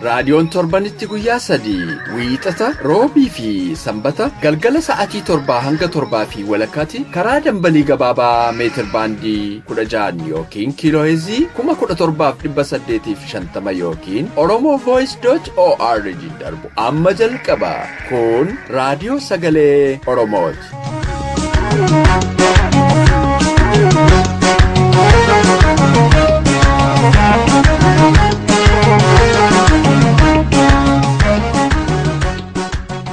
Raadiyoon torbanitti guyyaa sadii wiixata roobii fi sanbata galgala sa'atii torbaa hanga torbaa fi walakkaatti karaa dambalii gabaabaa meetir baandii kudha ja'an yookiin kiilooheezii kuma kudha torbaaf dhibba saddeetii fi shantama yookiin oromoo voice dot org darbu amma jalqaba kun raadiyoo sagalee oromooti.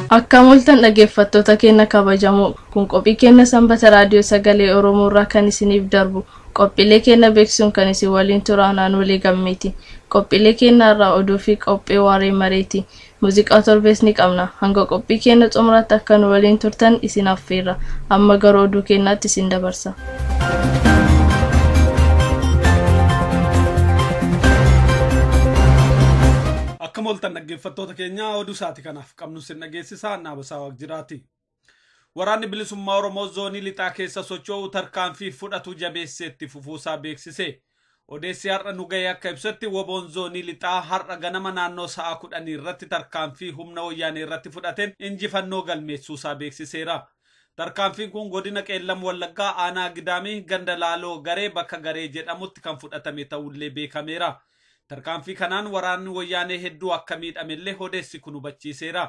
Akkam oltan dhaggeeffattoota keenya kabajamoo kun qophii keenya sanbata raadiyoo sagalee Oromoo irraa kan isiniif darbu qophiilee keenya beeksisuun kan isin waliin ture anaan walii gammeeti qophiilee keenya irraa oduu fi qophii waaree mareeti Muuziqaa torbees ni qabna. Hanga qophii keenya xumuraatti akka nu waliin turtan isin affeerra. Amma gara oduu keenyaatti isin dabarsa. Akka mooltan dhaggeeffattoota keenyaa oduu isaati kanaaf qabnu sin dhageessisaa Naabasaa Waaqjiraati. Waraanni Bilisummaa Oromoo Zoonii Lixaa keessa socho'u tarkaanfii fudhatu jabeessee itti fufuusaa beeksise. Odeessi har'a nu ga'e akka ibsetti woboon Zoonii Lixaa har'a ganama naannoo sa'a kudhanii irratti tarkaanfii humna Wayyaanee irratti fudhateen injifannoo galmeessuusaa beeksiseera. Tarkaanfiin kun godina Qeellam Wallaggaa aanaa Gidaamii ganda Laaloo Garee bakka Garee jedhamutti kan fudhatame ta'ullee beekameera. Tarkaanfii kanaan waraanni Wayyaanee hedduu akka miidhamellee odeessi kun hubachiiseera.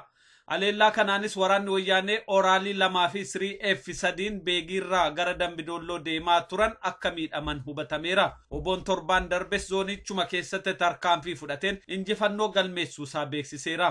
Aleellaa kanaanis waraanni Wayyaanee Ooraalii 2 fi 3F 3n Beegiirraa gara Dambi Doolloo deemaa turan akka miidhaman hubatameera. Wbon torbaan darbes zooniichuma keessatti tarkaanfii fudhateen injifannoo galmeessuusaa beeksiseera.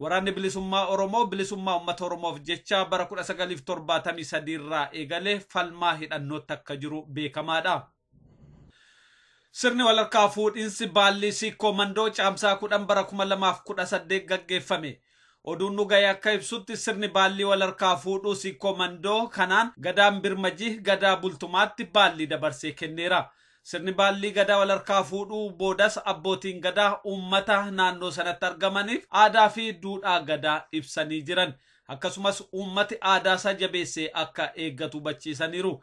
Waraanni Bilisummaa Oromoo bilisummaa ummata Oromoof jecha bara 1973 irraa eegalee falmaa hidhannootti akka jiru beekamaa dha. Sirni walharkaa fuudhinsi baallii Siikkoo Mandoo Caamsaa 10 bara 2018 gaggeeffame. Oduun nu gahe akka ibsutti sirni baallii walharkaa fuudhuu Siikkoo Mandoo kanaan Gadaan Birmajih Gadaa Bultumaatti baallii dabarsee kenneera. Sirni baallii Gadaa walharkaa fuudhuu boodas abbootiin Gadaa uummata naannoo sanatti argamaniif aadaa fi duudhaa Gadaa ibsanii jiran. Akkasumas uummati aadaa isaa jabeessee akka eeggatu hubachiisaniiru.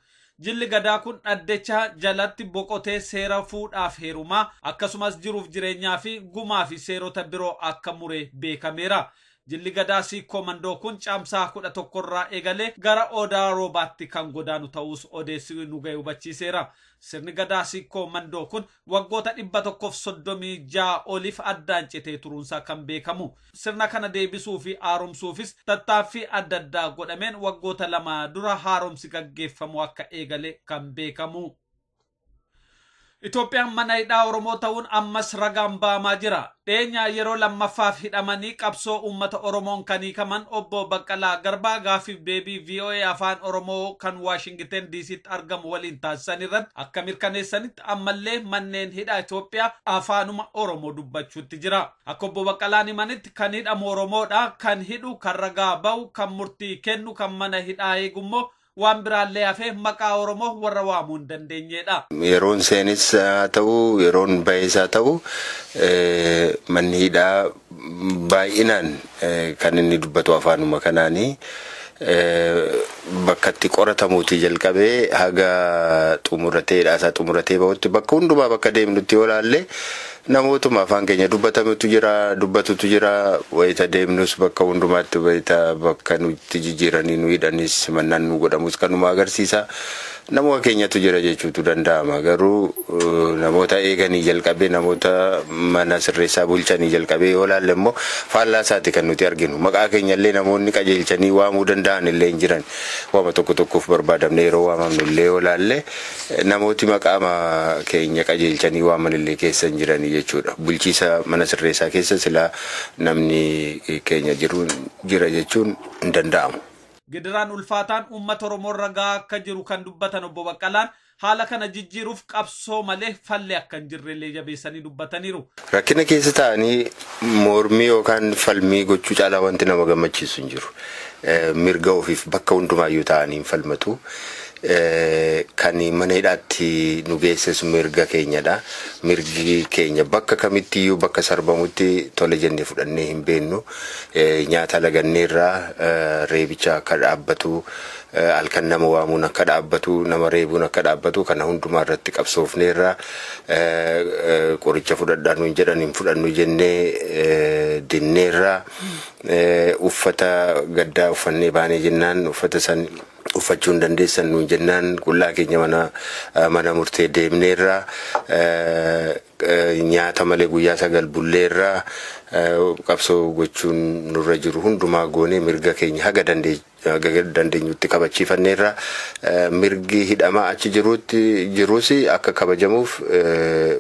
Jilli Gadaa kun dhaddecha jalatti boqotee seera fuudhaaf heerumaa, akkasumas jiruuf jireenyaa fi gumaa fi seerota biroo akka mure beekameera. Jilli Gadaa Siikkoo Mandoo kun Caamsaa 11 irraa eegalee gara Odaa Roobaatti kan godaanu ta'uus odeessi nu ga'e hubachiiseera. Sirni Gadaa Siikkoo Mandoo kun waggoota 136 oliif addaan citee turuunsaa kan beekamu. Sirna kana deebisuu fi haaromsuufis tattaaffii adda addaa godhameen waggoota lama dura haaromsi gaggeeffamuu akka eegale kan beekamu. Itoophiyaan mana hidhaa Oromoo ta'uun ammas ragaan ba'amaa jira. Dheenyaa yeroo lammaffaaf hidhamanii qabsoo uummata Oromoon kan hiikaman obbo Baqqalaa Garbaa gaaffiif deebii VOA Afaan Oromoo kan Waashingiten DCtti argamu waliin taasisan irratti akka mirkaneessanitti ammallee manneen hidhaa Itoophiyaa afaanuma Oromoo dubbachuutti jira. Akka obbo Baqqalaan himanitti kan hidhamu Oromoodha, kan hidhu, kan ragaa ba'u, kan murtii kennu, kan mana hidhaa eegu immoo Waan biraallee hafee maqaa Oromoo warra waamuu hin dandeenyeedha. Yeroon seenes haa ta'u, yeroon bahes haa ta'u, manni hidhaa baay'inaan kan inni dubbatu afaanuma kanaani. Bakka itti qoratamuutii jalqabee haga xumuratee hidhaasaa xumuratee bahutti bakka hundumaa bakka deemnutti yoo ilaalle Namootuma afaan keenya dubbatamutu jira, dubbatutu jira. Wayita deemnus bakka hundumaatti wayita bakka nutti jijjiiranii nu hidhanis simannaan nuu godhamus kanuma agarsiisa. Namuma keenyatu jira jechuutu danda'ama. Garuu namoota eeganii jalqabee namoota mana sirreessaa bulchanii jalqabee yoo ilaalle immoo faallaa isaati kan nuti arginu. Maqaa keenya illee namoonni qajeelchanii waamuu danda'an illee hin jiran. Waama tokko tokkoof barbaadamnee yeroo waamamnu illee yoo ilaalle Namooti maqaama keenya qajeelchanii waaman illee keessa hin jirani jechuudha. Bulchiisa mana sirreessaa keessa silaa namni keenya jiru jira jechuun hin danda'amu. Gidiraan ulfaataan uummata Oromoo irra gahaa akka jiru kan dubbatan Obbo Baqqalaan, haala kana jijjiiruuf qabsoo malee falli akka hin jirre illee jabeessanii dubbataniiru. Rakkina keessa taa'anii mormii yookaan falmii gochuu caalaa wanti nama gammachiisu hin jiru. Mirga ofiif bakka hundumaayyuu taa'anii hin falmatu. Kan mana hidhaatti nu geesses mirga keenyadha. Mirgi keenya bakka kamittiyyuu bakka sarbamutti tole jennee fudhannee hin beeknu. Nyaata laganneerra, reebicha akka dhaabbatu, Halkan nama waamuun akka dhaabbatu, nama reebuun akka dhaabbatu kana hundumaa irratti qabsoofneerra. Qoricha fudhadhaa nuun jedhan hin fudhannu jennee dinneerra. Uffata gaddaa uffannee baanee jennaan uffata san uffachuu hin dandeessan nuun jennaan qullaa keenya mana murtee deemneerra. Nyaata malee guyyaa sagal bulleerra. Qabsoo gochuun nurra jiru hundumaa goonee mirga keenya haga dandeenyutti kabachiifanneerra. Mirgi hidhamaa achi jirus akka kabajamuuf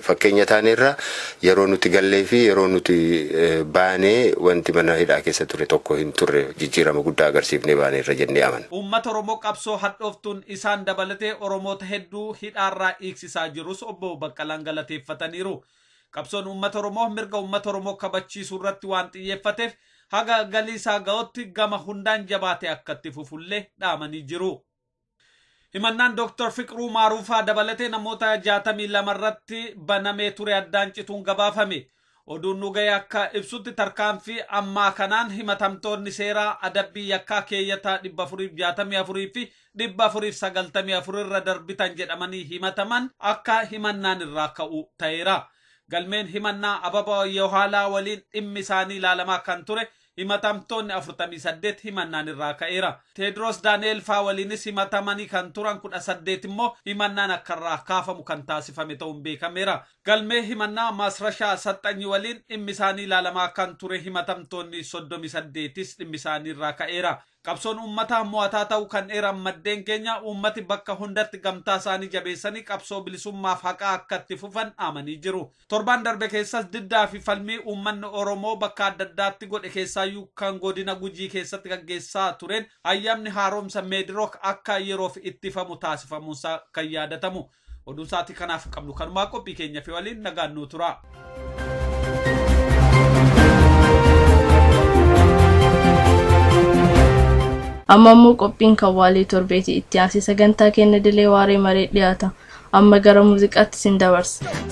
fakkeenya taaneerra. Yeroo nuti gallee fi yeroo nuti baane wanti mana hidhaa keessa ture tokko hin turre. Jijjiirama guddaa agarsiifnee baaneerra jennee amanna. Uummata Oromoo qabsoo hadhooftuun isaan dabalatee Oromoota hedduu hidhaarraa hiiksisaniiru. taasisaa jirus Obbo Baqqalaan galateeffataniiru. Qabsoon uummata Oromoo mirga uummata Oromoo kabachiisuu irratti waan xiyyeeffateef haga galii isaa ga'utti gama hundaan jabaatee akka itti fufullee dhaamanii jiru. Himannaan Dooktar Fiqruu Maaruufaa dabalatee namoota 62 irratti banamee ture addaan cituun gabaafame. Oduun nu gahe akka ibsutti tarkaanfii ammaa kanaan himatamtoonni seeraa adabbii yakkaa keeyyata 464 fi 494 irra darbitan jedhamanii himataman akka himannaan irraa ka'u ta'eera. Galmeen himannaa Ababaw Yewhaalaa waliin dhimmi isaanii ilaalamaa kan ture himatamtoonni 48 himannaan irraa ka'eera. Teediroos Daani'eel faa waliinis himatamanii kan turan 18 immoo himannaan akka irraa kaafamu kan taasifame ta'uun beekameera. Galmee himannaa Maasrashaa Asaxxanyi waliin dhimmi isaanii ilaalamaa kan ture himatamtoonni 38s dhimmi isaanii irraa ka'eera. Qabsoon uummataa mo'ataa ta'uu kan eeran maddeen keenya, uummati bakka hundatti gamtaa isaanii jabeessanii qabsoo bilisummaaf haqaa akka itti fufan dhaamanii jiru. Torbaan darbe keessas diddaa fi falmii uummanni Oromoo bakka adda addaatti godhe keessaayyuu kan godina Gujii keessatti gaggeessaa tureen ayyaamni haaromsa Meedirook akka yeroof ittifamu taasifamuunsaa kan yaadatamu. Oduu sa'aatii kanaaf qabnu kanumaa qophii keenya fi waliin nagaan nuu turaa. amma immoo qophiin kan waalee torbeeti itti aansee sagantaa kenna dilee waaree maree dhiyaata amma gara muuziqaatti sin dabarsa.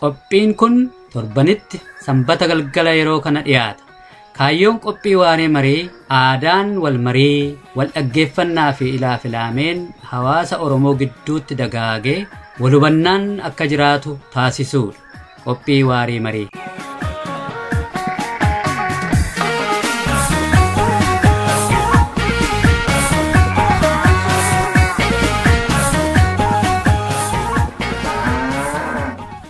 Qophiin kun torbanitti sanbata galgala yeroo kana dhiyaata. Kaayyoon qophii waaree marii aadaan wal marii, wal dhaggeeffannaa fi ilaa filaameen hawaasa Oromoo gidduutti dagaagee wal hubannaan akka jiraatu taasisuudha. Qophii waarii marii.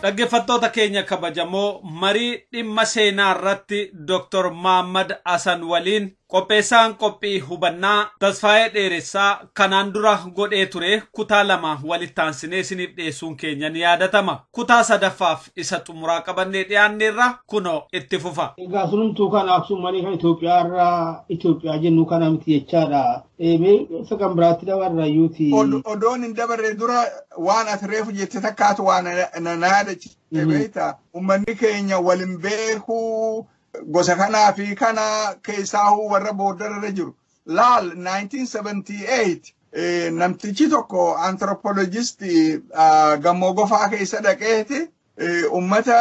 Dhaggeeffattoota keenya kabajamoo marii dhimma seenaa irratti Dr. Maammad Hasan waliin Qopheessaan qophii hubannaa Tasfaayee Dheeressaa kanaan dura godhee ture kutaa lama walitti aansinee isiniif dhiyeessuun keenya ni yaadatama. Kutaa sadaffaaf isa xumuraa qabannee dhiyaanneerra kunoo itti fufa. Egaa sunumtuu kana Aksuumanii kan Itoophiyaa irraa Itoophiyaa jennu kana miti jechaadha. Ee, mee isa kan biraatti dabarra yuuti. Od- odoon hin dabarre dura waan ati reefu jette takkaatu waan na- na na yaadachiise Mhm. beekta. Ummanni keenya wal hin beeku, gosa kanaa fi kana keessaahuu warra boordarra jiru. Laal 1978 eh, namtichi tokko anthropologistii ah, gammoo gofaa keessa dhaqeeti eh, ummata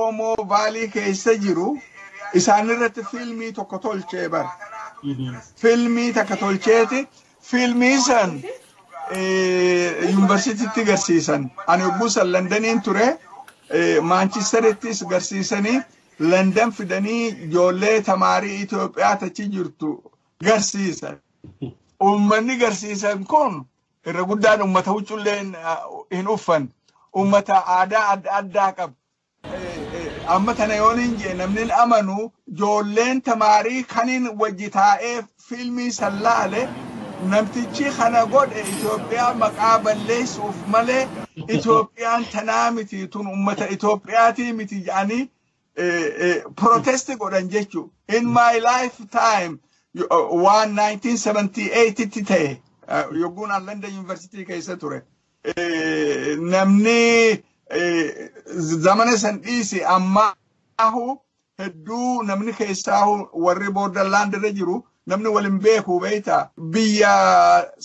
Oomoo Vaalii keessa jiru isaanirratti fiilmii tokko tolchee bara. Fiilmii takka tolcheeti fiilmii san eh, yuunivarsiitiitti garsiisan. Ani yogguu san Landaniin ture eh, Maanchisterittis garsiisanii Landan fidanii ijoollee tamaarii Itoophiyaa tachi jirtu garsiisan. Uummanni garsiisan kun irra guddaan uummata huccullee hin uffan. Uummata aadaa adda addaa qabu. Amma tana yoon hin jee namni amanu ijoolleen tamaarii kaniin wajji taa'ee Fiilmii san laale namtichii kana godhe Itoophiyaa maqaa balleessu'uuf malee Itoophiyaan tanaa miti tun ummata Itoophiyaatii miti jedhanii protest godhan jechuu. In my lifetime waan 1978 tti ta'e yogguun an London University keessa ture. Namni zamana san dhiise ammaahu hedduu namni keessaa warri borderland irra jiru namni wal hin beeku beekta biyya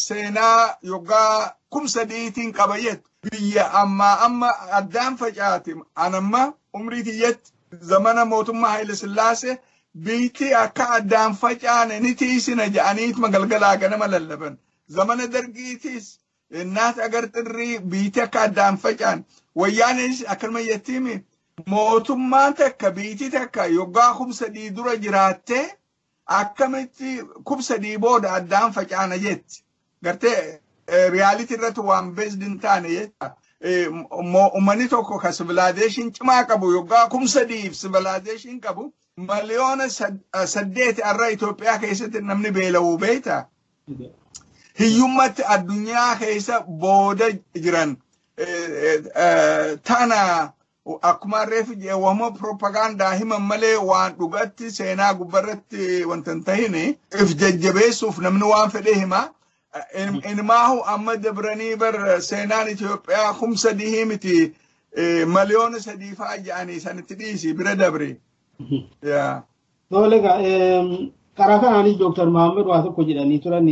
seenaa yoggaa kum sadiitiin qaba jettu biyya ammaa amma addaan facaate anamma umrii tiyyatti zamana mootummaa Haayile Sillaasee biyyatti akka addaan facaane ni tiisina jedhaniituma galgalaa ganama lallaban zamana dargiitiis Innaas agar xirrii biitii akka addaan facaan wayyaanis akkanuma jettiimi mootummaan takka biitii takka yoggaa kum sadii dura jiraattee akkamitti kum sadii booda addaan facaana jetti. Gartee riyaalitii irratti waan beesdi hin taane jecha uummanni tokko kan sivilaazeeshin cimaa qabu yoggaa kum sadiif sivilaazeeshin qabu miliyoona saddeeti har'a Itoophiyaa keessatti namni beela'uu beekta. hiyyummatti addunyaa keessa booda jiran tana akkuma reefu wama propagaandaa himan malee waan dhugatti seenaa gubbarratti wanta hin tahine if jajjabeessuuf namni waan fedhee hima. Inumaahu amma dabranii bar seenaan Itoophiyaa kum sadii miti miliyoona sadii fa'aa ja'anii sanitti dhiisi bira dabre. Tole egaa karaa kanaanis Dooktar Mahammad waa tokko jedhanii turan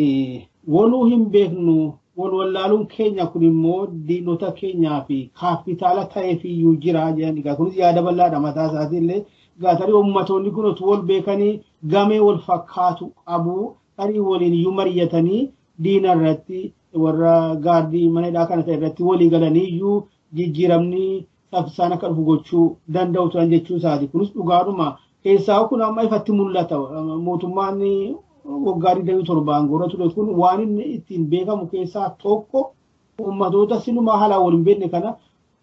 waluu hin beeknu wal wallaaluun keenya kun immoo diinota keenyaa fi kaappitaala ta'eefiyyuu jira jedhan egaa kunis yaada bal'aadha mataa isaatii illee egaa tarii ummatoonni kun utuu wal beekanii gamee wal fakkaatu qabu tarii waliin iyyuu mari'atanii diina irratti warra gaardii mana hidhaa kana ta'e irratti walii galanii iyyuu jijjiiramni saffisaan akka dhufu gochuu danda'u turan jechuu isaati. Kunis dhugaadhuma keessaa kun amma ifatti mul'ata. Mootummaan waggaa 27 aangoorra ture kun waan inni ittiin beekamu keessaa tokko uummatoota silumaa haalaan wal hin beekne kana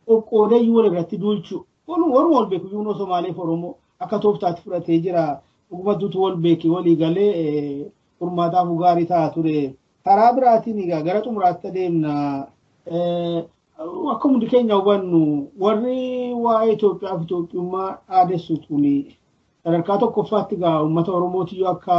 qoqqoodee yoo irratti duulchu walumaan wal beeku yoo Somaalee fi Oromoo akka tooftaatti fudhatee jira. Dhugumatuutu wal beeki walii galee furmaataaf gaarii ta'a ture. Karaa biraatiin egaa gara xumuraatti adeemna. Akka hundi keenya hubannu warri waa'ee Itoophiyaa fi Itoophiyummaa dhaadessu tuni sadarkaa tokkoffaatti egaa uummata Oromootiyyuu akka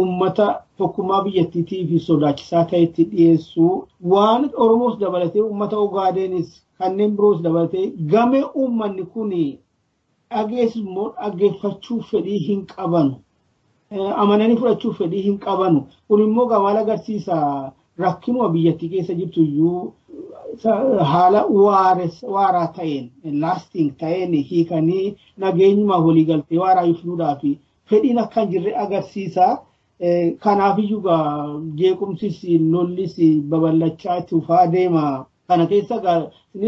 uummata tokkummaa biyyattiitii fi sodaachisaa ta'etti dhiyeessu. Waan Oromoos dabalatee uummata Ogaadeenis kanneen biroos dabalatee gamee uummanni kun dhagees immoo dhaggeeffachuu fedhii hin qabanu. Amananii fudhachuu fedhii hin qabanu. Kun immoo maal agarsiisa rakkinuma biyyattii keessa jirtu iyyuu haala waaraa ta'een laasting ta'een hiikanii nageenyumaaf waliigaltee waaraa fiduudhaaf fedhiin akka hin jirre agarsiisa. Kanaaf iyyuu jeequmsis lollis babal'achaa itti fufaa deema. Kana keessa egaa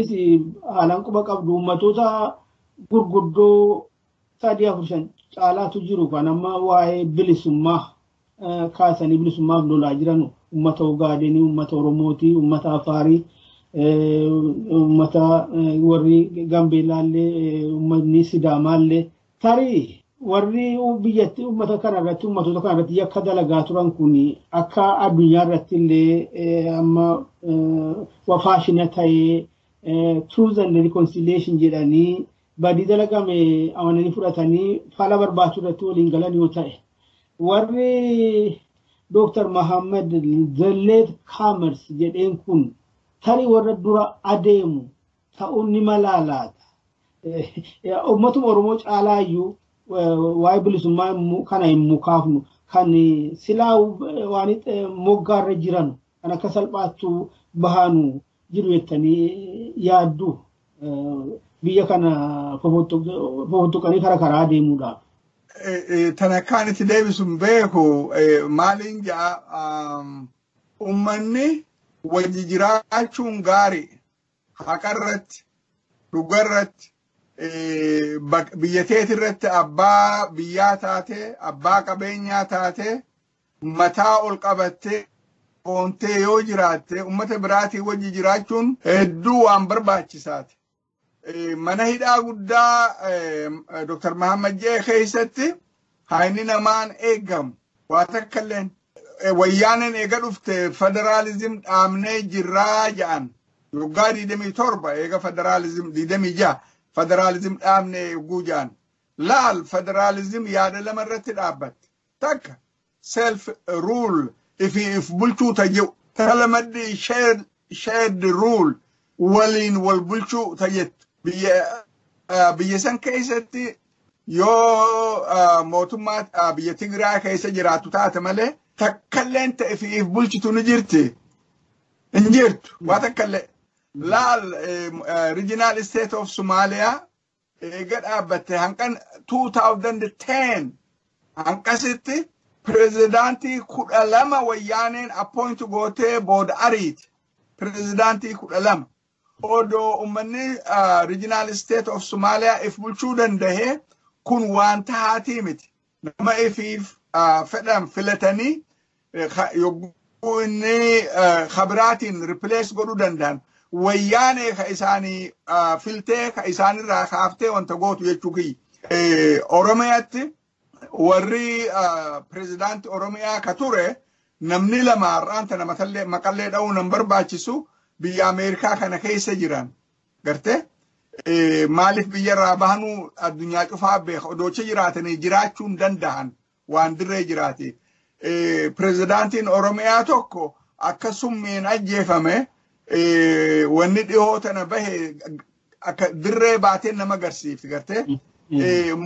isinis haalaan quba qabdu uummatoota gurguddoo sadii afur shan caalaatu jiru kan amma waa'ee bilisummaa eh, kaasanii bilisummaaf lolaa jiran uummata Ogaadenii, uummata Oromootii, uummata Afaarii, eh, uummata eh, warri Gambeellaallee, eh, uummatni Sidaamaallee Tarii warri biyyatti uummata kana irratti uummatoota kana irratti yakka dalagaa turan kun akka addunyaa irratti illee amma wafaashina ta'ee truth and reconciliation jedhanii badii dalagame amananii fudhatanii fala barbaachuu irratti waliin galan yoo ta'e warri Dr. Mahammad Zalleet Kaamers jedheen kun tarii warra dura adeemu ta'uun ni malaa laata? Uummatuma Oromoo caalaa iyyuu waa'ee bilisummaa kana hin mukaafnu kan silaa waan moggaarra jiran kan akka salphaattuu bahaanu jiru jettanii yaaddu biyya kana fofottuqanii kara karaa deemuudhaaf. Tan akkaan itti deebisu hin beeku maaliin ja'a uummanni wajji jiraachuun gaarii haqarratti dhugarratti biyya teetirratti abbaa biyyaa taatee abbaa qabeenyaa taatee mataa ol qabattee boontee yoo jiraatte ummata biraatii wajji jiraachuun hedduu waan barbaachisaati. Mana hidhaa guddaa Dr. Mahammad Jee keessatti haayni namaan eegamu waa takka illeen Wayyaaneen eega dhufte federaalizim dhaabnee jirraa ja'an. Waggaa 27 eega federaalizim 26 federaalizim dhaabnee eeguu ja'an. Laal federaalizim yaada lama irratti dhaabbatte. Takka self rule ifi if bulchuu ta jiru. Tala maddi ishee shared rule waliin wal bulchuu ta jettu biyya ah, biyya san keessatti yoo ah, mootummaa ah, biyya Tigraay keessa jiraatu taate malee takkalleen ta'e fi if bulchitu ni jirti hin jirtu waa takkallee laal regional state of Somalia eega dhaabbatte hanqan 2010 hanqasitti pirezidaantii kudha lama wayyaaneen appoint gootee booda ariiti pirezidaantii kudha lama odoo ummanni rijinaal isteet of somaaliyaa if bulchuu dandahee kun waan tahaatii miti Nama ifiif fedhan filatanii yogguu inni kabiraatiin ripilees godhuu danda'an wayyaanee ka isaanii filtee ka isaanirraa kaaftee wanta gootu jechuu kiyya. Oromiyaatti warri pirezidaantii Oromiyaa ka ture namni lama har'aan tana maqallee dha'uu nan barbaachisu biyya Ameerikaa kana keessa jiran Gartee maaliif biyyarraa bahanuu addunyaa cufaa beeka odoocha jiraatanii jiraachuu hin danda'an waan dirree jiraate. Pirezidaantiin Oromiyaa tokko akka summiin ajjeefame wanni dhihoo tana bahe akka dirree baatee nama agarsiifti gartee.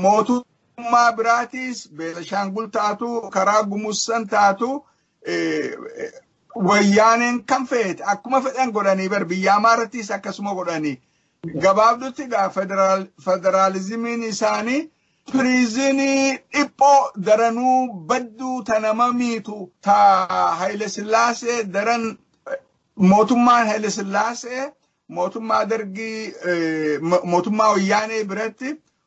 Mootummaa biraatiis Beelashaangul taatu karaa Gumusan taatu wayyaaneen kan feete akkuma fedhan godhanii bar biyya amaarattis akkasuma godhanii gabaabdutti gaa federaalizimiin isaanii piriizinii dhiphoo daranuu badduu ta nama miitu ta Haile Sillaasee daran mootummaan Haile Sillaasee mootummaa dargii mootummaa wayyaanee biratti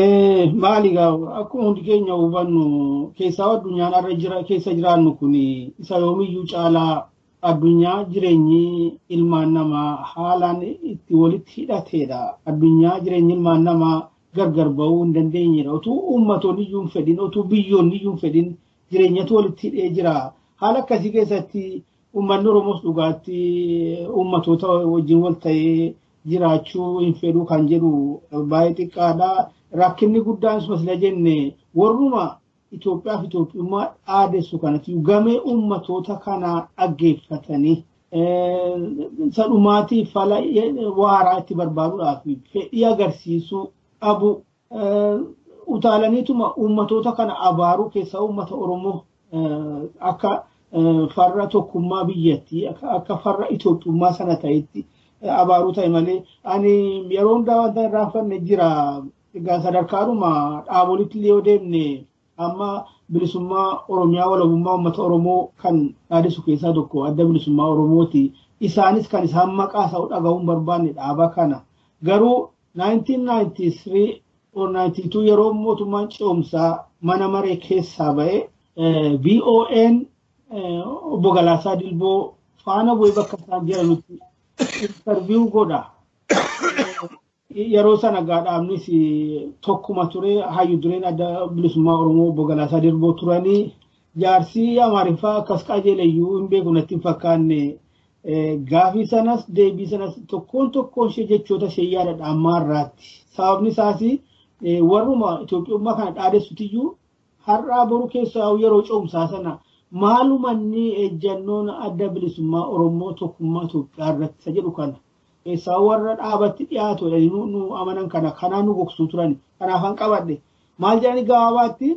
Eh, maali gaa akkuma hundi keenya hubannu keessaa addunyaan har'a jira keessa jiraannu kun isa yoomiyyuu caalaa addunyaa jireenyi ilmaan namaa haalaan itti walitti hidhateedha. Addunyaa jireenyi ilmaan namaa gargar ba'uu hin dandeenyedha. Otuu uummatonni iyyuu hin fedhin, otuu biyyoonni iyyuu hin fedhin jireenyatu walitti hidhee jira. Haala akkasii keessatti Uummanni Oromoos dhugaatti uummatoota wajjin wal ta'ee jiraachuu hin fedhu kan jedhu baay'ee xiqqaadha. Rakkinni guddaan sila jenne warruma Itoophiyaa fi Itoophiyummaa dhaadessu kanatti gamee uummatoota kanaa dhaggeeffatanii sadhumaatii fala waaraa itti barbaaduudhaaf fedhii agarsiisuu dhabuu utaalaniituma uummatoota kana abaaruu keessaa uummata Oromoo akka farra tokkummaa biyyattii akka farra Itoophiyummaa sana ta'etti abaaruu ta'e malee ani yeroo hundaa wanta hin raaffanne jira. Egaa sadarkaadhuma dhaabolitti illee yoo deemne amma bilisummaa Oromiyaa walabummaa uummata Oromoo kan dhaadhisu keessaa tokko adda bilisummaa Oromooti. Isaanis kan isaan maqaa isaa dhaga'uun barbaanne dhaaba kana. Garuu 1993 or 92 yeroo mootummaan ce'umsaa mana maree keessaa ba'e VOAn obbo Galaasaa Dilboo faana bu'ee bakka isaan jedhanutti interviyuu godha. Yeroo sana gaadhaamnis tokkuma ture hayyu dureen adda bilisummaa Oromoo obbo Galaasaa Dilboo turanii jaarsii Amaariffaa akkas qajeeleyyuu hin beeku natti hin fakkaanne Gaafii sanas deebii sanas tokkoon tokkoon ishee jechoota ishee yaadadha ammaa irraatti. Sababni isaas warruma Itoophiyummaa kana dhaadessutiyyuu har'aa boru keessaa yeroo cimsaa sana maalumanni ejjannoon adda bilisummaa Oromoo tokkummaa Itoophiyaa irratti isa jedhu kana. Keessaa warra dhaabatti dhiyaatu jedhanii nu amanan kana kanaa nu gogsuu turan. Kanaafan qabadhe. Maal jedhanii gabaabaatti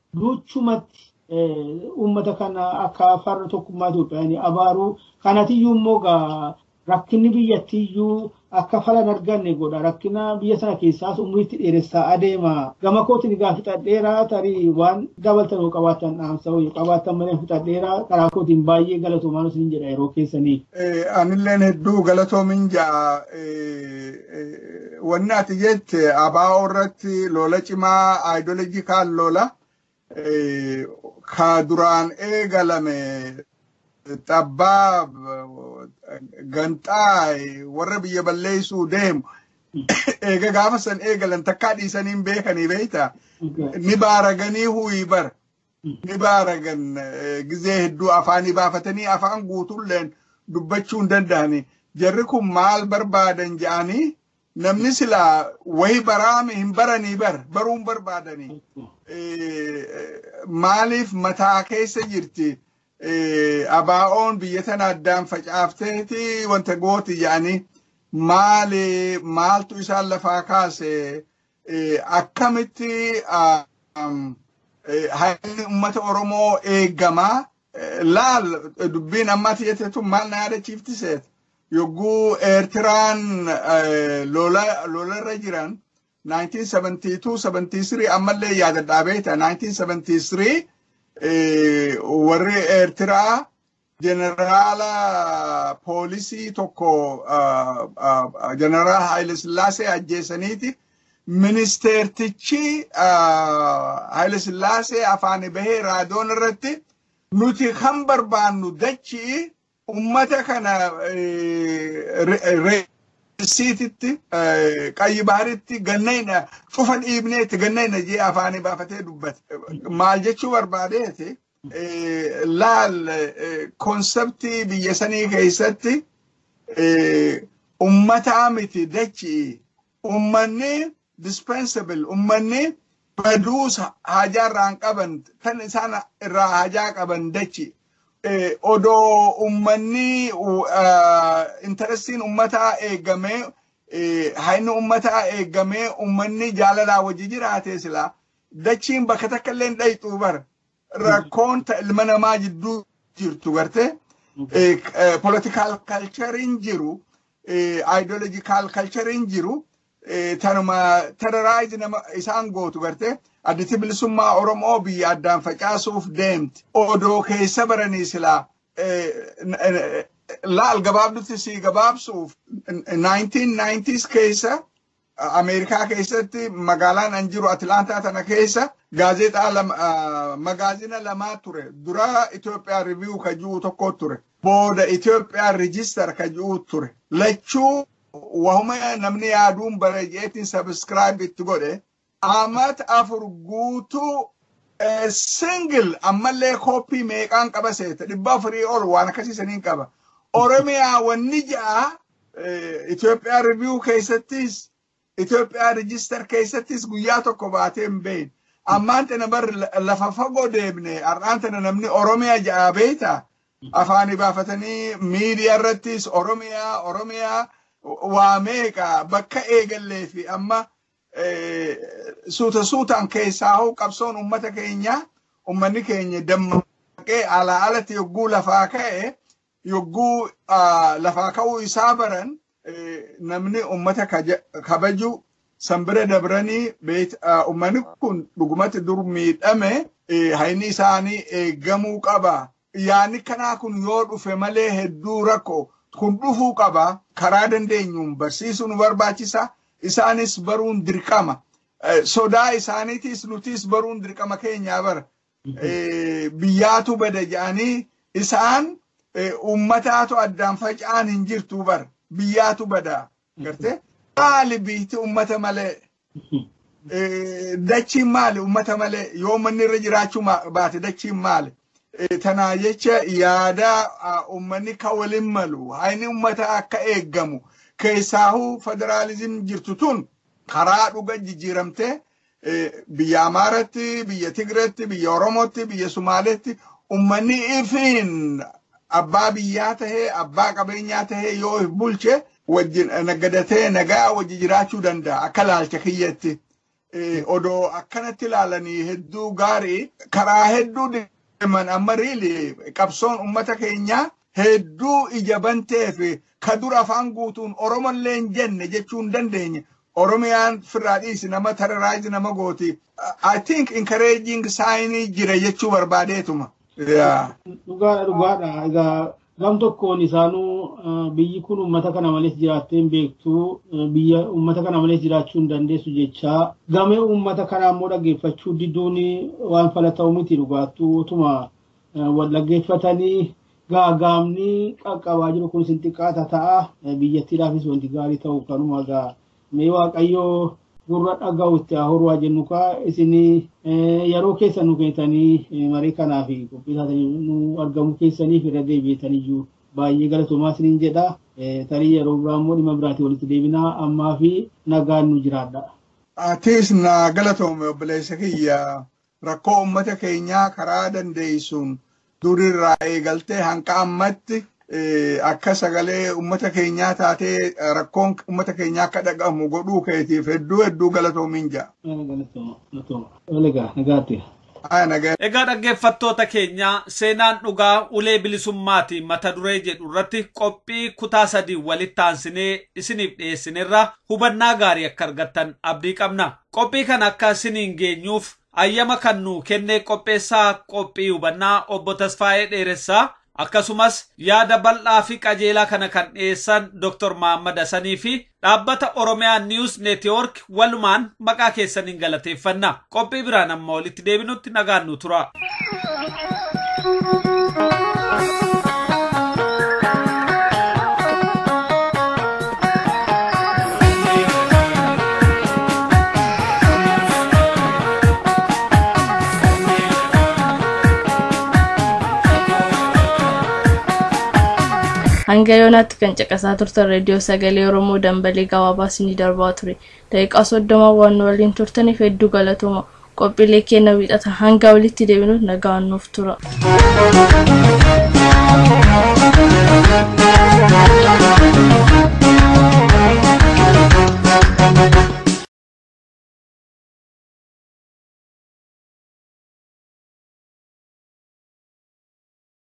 Luuchumatti uummata kana akka farra tokkummaa Itoophiyaan abaaruu kanatiyyuu immoo gaa rakkinni biyyattiyyuu akka falan arganne godha rakkina biyya sana keessaas umriitti dheeressaa adeema gama kootiin egaa fixadheera tarii waan dabaltan yoo qabaatan dhaamsa yoo qabaatan malee fixadheera karaa kootiin baay'ee galatoomaa isin jedha yeroo keessanii. Anilleen hedduu galatoomin ja'a Wanni ati jette abaa'oo irratti lola cimaa ideology kaan lola ka duraan eegalame xabbaab ganxaa warra biyya balleessuu deemu eega gaafa san eegalan takkaa dhiisanii hin beekanii beekta ni baaraganii huyi bar ni baaragan gizee hedduu afaanii baafatanii afaan guutuulleen dubbachuu hin danda'ani. Jarri kun maal barbaadan ja'anii namni silaa wayi baraame hin baranii bar baruu hin barbaadani. Maaliif mataa keessa jirti abaa'oon biyya tana addaan facaafteeti wanta gooti ja'anii maali maaltu isaan lafaa kaase akkamitti haalli uummata Oromoo eegama laal dubbiin amma ati jette tun maal na yaadachiifti seet yogguu Eertiraan lolarra jiran 1972-73 ammallee yaadadhaa beekta 1973 warri Eertiraa Jeneraala poolisii tokko jeneraal Haayile Sillaasee ajjeesaniiti. Ministeertichi Haayile Sillaasee afaan bahee raadiyoon irratti nuti kan barbaannu dachii ummata kana reessiititti qayyi baharitti gannayna cufa dhiibneetti gannayna jee afaanii baafatee dubbate. Maal jechuu barbaadeeti? laal konseptii biyya sanii keessatti ummataa miti dachi ummanni dispensable ummanni baduus haajaa irraan qaban kan isaan irraa haajaa qaban dachi odoo ummanni intarestiin ummataa eegamee hayni ummataa eegamee ummanni jaalalaan wajji jiraatee silaa dachiin bakka takka illee hin dhayxuu bara rakkoon ta ilma namaa jidduu jirtu garte political culturein jiru ideological culturein jiru tanuma terrorize nama isaan gootu garte additi bilisummaa oromoo biyya addaan facaasuuf deemti odoo keessa baranii silaa laal gabaabdutti sii gabaabsuuf 1990s keessa Ameerikaa keessatti magaalaan an jiru Atilaantaa tana keessa gaazexaa lama magaazina lamaa ture. Dura Itoophiyaa Review ka jiru tokko ture. Booda Itoophiyaa Register ka jiru ture. Lachuu wahuma namni yaaduun bareejeetiin sabiskiraayib itti godhe Amat afur guutuu a single ammallee copy meeqaan qaba seeta dhibba afurii ol waan akkasii saniin qaba oromiyaa wanni ja'a Itoophiyaa review keessattis Itoophiyaa register keessattis guyyaa tokko baatee hin beeyin ammaan tana bar lafa fagoo deemne har'aan tana namni oromiyaa ja'a beeyta afaanii baafatanii miidiyaa irrattis oromiyaa oromiyaa waa meeqa bakka eegallee fi amma suuta suutaan keessaa hoo qabsoon ummata keenyaa ummanni keenya dammaqee alaa alatti yogguu lafaa ka'e yogguu lafaa ka'uu isaa baran namni ummata kabaju san bira dabranii ummanni kun dhugumatti dur miidhame hayni isaanii eegamuu qaba Yaanni kanaa kun yoo dhufe malee hedduu rakko. Kun dhufuu qaba. Karaa dandeenyuun barsiisuu nu barbaachisa. Isaanis baruun dirqama. Sodaa isaaniitiis nutiis baruun dirqama keenyaa bara. Biyyaatu bada jedhanii isaan uummataatu addaan faca'aan hin jirtuu bara. Biyyaatu bada. Gartee maali biyyatti uummata malee dachiin maali uummata malee yoo manni irra jiraachuu baate dachiin maali. Tanaa jecha yaada uummanni ka waliin malu hayni uummata akka eeggamu keessaahuu federaalizim jirtu tun karaa dhuga jijjiiramtee biyya Amaaratti, biyya Tigreetti, biyya Oromootti, biyya Sumaaleetti ummanni ifiin abbaa biyyaa tahee abbaa qabeenyaa tahee yoo if bulche wajjin naggadatee nagaa wajji jiraachuu danda'a akka laalcha kiyyatti. Odoo akkanatti laalanii hedduu gaarii karaa hedduu deeman amma riili qabsoon ummata keenyaa hedduu ija banteef ka dur afaan guutuun Oromollee hin jenne jechuu hin dandeenye Oromiyaan firraa dhiisi nama terrorize nama gooti I think encouraging sign jira jechuu barbaadeetuma. Yeah. Dhugaadha dhugaadha. Egaa gam tokkoon isaanuu eh, biyyi kun uummata kana malees jiraattee hin beektu eh, biyya uummata kana malees jiraachuu hin dandeessu jechaa gamee uummata kanaa immoo dhaggeeffachuu diduun waan fala ta'u miti dhugaattuu utuma wal dhaggeeffatanii gaagaamni qaqqabaa jiru kun isin xiqqaata ta'a. Biyyattiidhaafis wanti gaarii ta'u kanuma egaa mee waaqayyoo gurra dhaga'u itti haa horu haa jennu kaa isin yeroo keessa nu kennitanii marii kanaa fi qophii taatanii nu argamu keessaniif irra deebi'etaniyyuu baay'ee galatoomaa isiniin jedha. Tarii yeroo biraa immoo dhimma biraatiin walitti deebinaa ammaa fi nagaan nu jiraadha. Atiis naa galatoomi obboleessa kiyya rakkoo ummata keenyaa karaa dandeessuun durirraa eegaltee hanga ammatti akka sagalee ummata keenyaa taatee rakkoon ummata keenyaa akka dhagahamu godhuu keetiif hedduu hedduu galatoomiin ja'a. Egaa dhaggeeffattoota keenyaa seenaan dhugaa ulee bilisummaati mata duree jedhu irratti qophii kutaa sadii walitti aansinee isiniif dhiyeessinerraa hubannaa gaarii akka argattan abdii qabna. Qophii kana akka siniin geenyuuf ayyama kan nuu kenne qopheessaa qophii hubannaa obbo Tasfaayee Dheeressaa akkasumas yaada bal'aa fi qajeelaa kana kan dhiyeessan Dr. Mahaammad Hasanii fi dhaabbata Oromiyaa News Network walumaan maqaa keessaniin galateeffanna. Qophii biraan amma walitti deebinutti. T nagaan nu tura. hanga yoonaatti kan caqasaa turtan reediyoo sagalee oromoo dambalii gabaabaa isinii darbaa ture Daqiiqaa 30 waan nu waliin turtaniif hedduu galatooma. Qophiilee keenya wiixata hanga walitti deebinuuf nagaan nuuf tura.